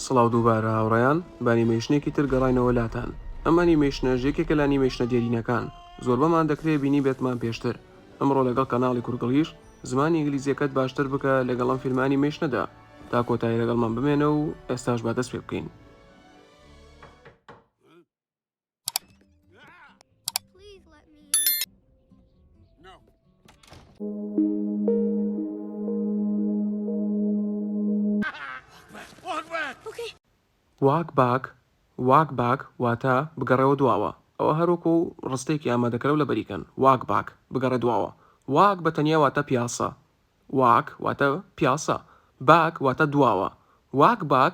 سڵاو دووبارە هاوڕێیان، بە ئەنیمەیشنێکی تر گەڕاینەوە لاتان. ئەم ئەنیمەیشنەش یەکێکە لە ئەنیمەیشنە دێرینەکان، زۆربەمان دەکرێ بینیبێتمان پێشتر. ئەمڕۆ لەگەڵ کەناڵی کورگڵیش، زمانی ئینگلیزییەکەت باشتر بکە لەگەڵ ئەم فیلمە ئەنیمەیشنەدا. تا کۆتایی لەگەڵمان بمێنە و ئێستاش با دەست پێ بکەین. واک باک واک باک واتە بگەڕێوە دواوە ئەوە هەروەکو ڕستەیەکی ئامادەکەرە و لەبەری کەن واک باک بگەڕێ دواوە واک بە تەنیا واتە پیاسە واک واتە پیاسە باک واتە دواوە واک باک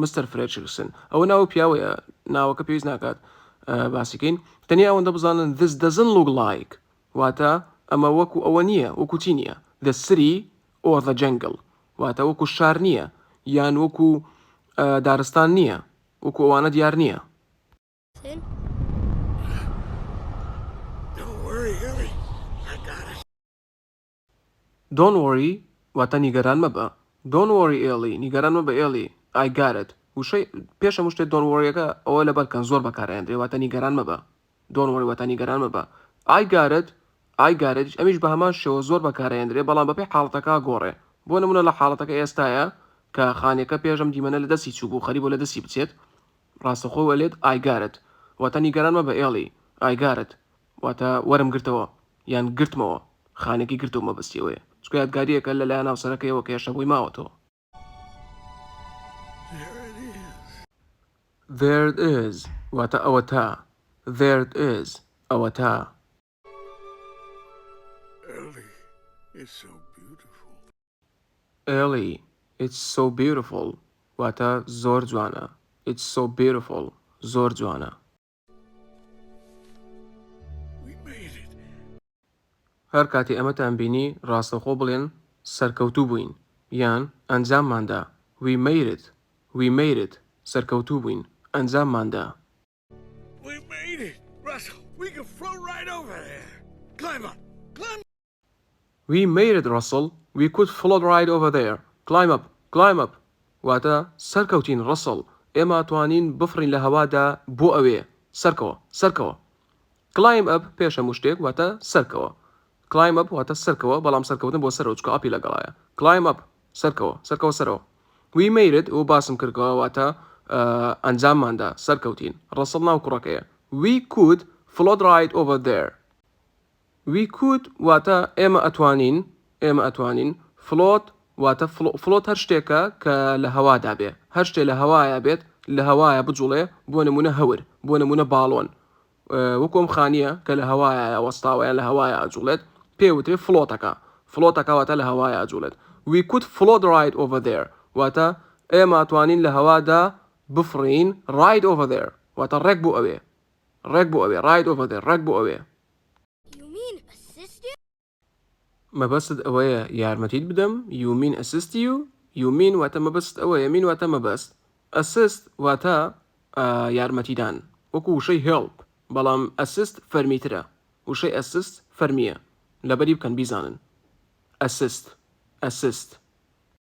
مستەر فرێچرسن، ئەوە ناو ئەو پیاوەیە، ناوەکە پێویست ناکات باسی کەین، تەنیا ئەوەندە بزانن This doesn't look like واتە ئەمە وەکو ئەوە نییە، وەکو چی نییە The city or the jungle واتە وەکو شار نییە یان وەکو دارستان نییە، وەکو ئەوانە دیار نییە. Don't worry واتە نیگەران مەبە Don't worry Ellie نیگەران مەبە Ellie I got it وشەی پێش هەموو شتێ Don't worry ەکە ئەوە لەبەر کەن زۆر بەکار ئەیەندرێ واتە نیگەران مەبە Don't worry واتە نیگەران مەبە I got it I got it ئەمیش بە هەمان شێوە زۆر بەکار ئەیەندرێ بەڵام بەپێی حاڵەتەکە گۆڕێ بۆ نموونە لە حاڵەتەکە ئێستایە کە خانیەکە پێش ئەم دیمەنە لە دەستی چووبوو خەری بۆ لە دەستی بچێت ڕاستەخۆ ئەلێت I got it واتە نیگەران مەبە Ellie I got it واتە وەرم گرتەوە یان گرتمەوە، خانێکی گرتووە مەبەستی ئەوەیە، چونکە یادگارییەکە لەلایەن هاوسەرەکەیەوە کە هێشتا بۆی ماوەتەوە. There it is There it is واتە ئەوەتا There it is ئەوەتا. Ellie It's so beautiful Ellie It's so beautiful واتە زۆر جوانە It's so beautiful زۆر جوانە. هەر کاتی ئەمەتان بینی ڕاستەوخۆ بڵێن سەرکەوتوو بووین یان ئەنجاممان دا We made it We made it سەرکەوتوو بووین ئەنجاممان دا. We made it Russell We could float right over there Climb up Climb up واتە، سەرکەوتین ڕەسڵ ئێمە توانین بفڕین لە هەوادا بۆ ئەوێ سەرکەوە سەرکەوە Climb up پێش هەموو شتێک واتە، سەرکەوە Climb up واتە، سەرکەوە بەڵام سەرکەوتن بۆ سەرەوە چکە ئەپی لەگەڵایە Climb up سەرکەوە سەرکەوە سەرەوە We made it و باسم کردکەوە واتە، ئەنجامماندا سەرکەوتین ڕەسڵ ناو کوڕەکەیە We could float right over there We could واتە ئێمە ئەتوانین، ئێمە ئەتوانین، Float واتە فڵۆت، Float هەر شتێکە کە لە هەوادا بێ، هەر شتێ لە هەوایا بێت، لە هەوایە بجوڵێ، بۆ نموونە هەور، بۆ نموونە باڵۆن، وەکو ئەم خانییە کە لە هەوایایە وەستاوە یان لە هەوایە ئەجوڵێت پێ وترێ فڵۆتەکە، فڵۆتەکە واتە لە هەوایە ئەجوڵێت We could float right over there واتە ئێمە ئەتوانین لە هەوادا بفڕین Right over there واتە ڕێک بۆ ئەوێ، ڕێک بۆ ئەوێ Right over there ڕێک بۆ ئەوێ. مەبەستت ئەوەیە یارمەتیت بدەم You mean assist you You mean واتە مەبەستت ئەوەیە Mean واتە مەبەست Assist واتە یارمەتیدان وەکو وشەی Help بەڵام assist فەرمیترە وشەی assist فەرمییە لەبەری بکەن بیزانن Assist Assist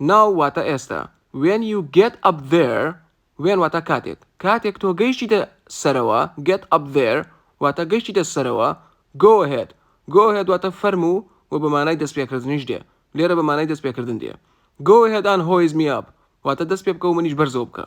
Now واتە ئێستا When you get up there When واتە کاتێک کاتێک تۆ گەیشتیتە سەرەوە Get up there واتە گەیشتیتە سەرەوە Go ahead Go ahead واتە فەرموو و بە مانای دەستپێکردنیش دێ لێرە بە مانای دەستپێکردن دێ Go ahead and hoise me up واتە دەست پێ بکە و منیش بەرزەو بکە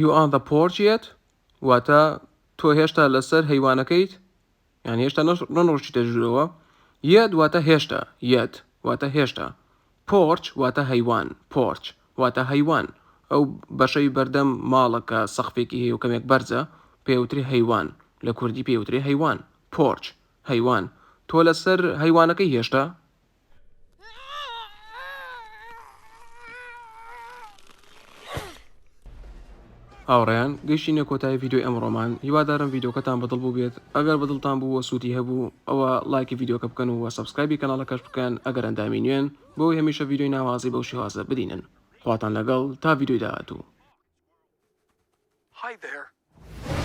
You on the porch yet؟ واتە تۆ هێشتا لەسەر هەیوانەکەیت یان هێشتا نەڕۆشتیتە ژوورەوە یەت واتە هێشتا یەت واتە هێشتا پۆرچ واتە هەیوان پۆرچ واتە هەیوان ئەو بەشەی بەردەم ماڵەکە سەخفێکی هەیە و کەمێک بەرزە پێوتری هەیوان لە کوردی پێوتری هەیوان پۆرچ هەیوان تۆ لەسەر هەیوانەکەی هێشتا هاوڕیان گەشتینە کۆتای ویددیو ئەمڕۆمان هیوادارم ویددیوکەتان بەدڵ بوو بێت ئەگەر بەدڵتان بوو وە سوودی هەبوو ئەوە لایکی ویددیوکە بکەن و وە سبسکایبی کەناڵەکەش بکەن ئەگەر ئەندامی نوێن بۆی هەمیشە ویددیوی ناوازی بەو شێوازە بدینن خواتان لەگەڵ تا ویددیوی داهاتوو Hi there.